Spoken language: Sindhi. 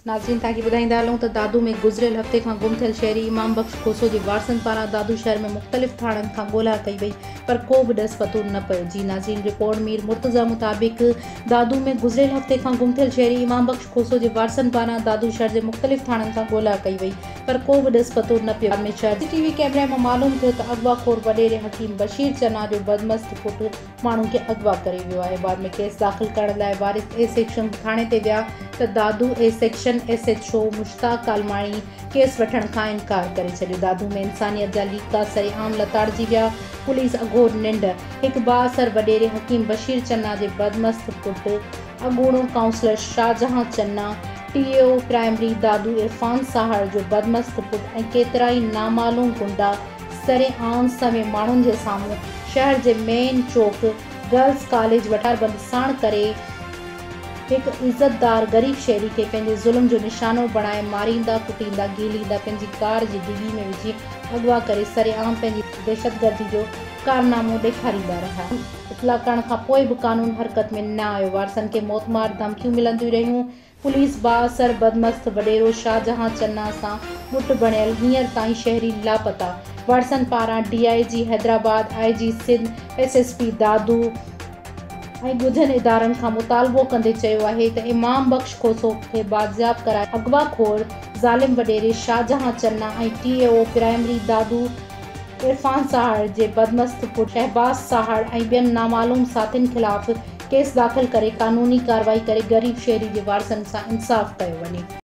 ناظرين توهان کي ٻڌائيندا هلون ته دادو ۾ گذريل هفتي کان گم ٿيل شهري امام بخش کوسو جي وارثن پاران دادو شهر ۾ مختلف ٿاڻن کان ڳولها ڪئي وئي پر ڪو به ڏس پتو نه پيو جي ناظرين رپورٽ مير مرتضيٰ مطابق دادو ۾ گذريل هفتي کان گم ٿيل شهري امام بخش کوسو جي وارثن پاران دادو شهر جي مختلف ٿاڻن کان ڳولها ڪئي وئي پر ڪو به ڏس پتو نه پيو ۾ شهر سي ٽي وي ڪيمري مان معلوم ٿيو ته اغوا خور وڏيري حڪيم بشير چنا جو بدمست پٽ ماڻهن کي اغوا ڪري ويو آهي بعد ۾ ڪيس داخل ڪرڻ لاء وارث اي سيڪشن ٿاڻي تي ويا ته Dadu A section S H O Mushtaq Kalmani case وٺڻ کان انڪار ڪري ڇڏيو دادو ۾ انسانيت جا ليڪا سري عام لتاڙجي ويا پوليس اگهور ننڊ هڪ بااثر وڏيري حڪيم بشير چنا جي بدمست پٽ اڳوڻو councillor Shahjahan Channa T E O primary Dadu Irfan Sahar جو بدمست پٽ ۽ ڪيترائي نامعلوم غنڊا سري عام سوين ماڻهن جي سامهون شهر جي مين چوڪ گرلس ڪاليج وٽان بند ساڻ ڪري هڪ عزتدار غريب شهري کي پنهنجي ظلم جو نشانو بڻائي ماريندا ڪٽيندا گهيليندا پنهنجي ڪار جي ڊگهي ۾ وجهي اغوا ڪري سري عام پنهنجي دهشتگردي جو ڪارنامو ڏيکاريندا رهيا. اطلاع ڪرڻ کان پوء به قانون حرڪت ۾ نه آيو، وارثن کي موتمار ڌمڪيون ملنديون رهيون، پوليس بااثر بدمست وڏيرو شاهجهان چنا سان مٽ بڻيل، هينئر تائين شهري لاپتا، وارثن پاران D I G Hyderabad, I G Sindh, S S P Dadu ۽ ڳجهن ادارن کان مطالبو ڪندي چيو آهي ته امام بخش کوسو کي بازياب ڪرائي اغوا خور ظالم وڏيري Shahjahan Channa ۽ T E O primary Dadu Irfan Sahar جي بدمست پٽ شهباز ساهڙ ۽ ٻين نامعلوم ساٿين خلاف ڪيس داخل ڪري قانوني ڪارروائي ڪري غريب شهري جي وارثن سان انصاف ڪيو وڃي.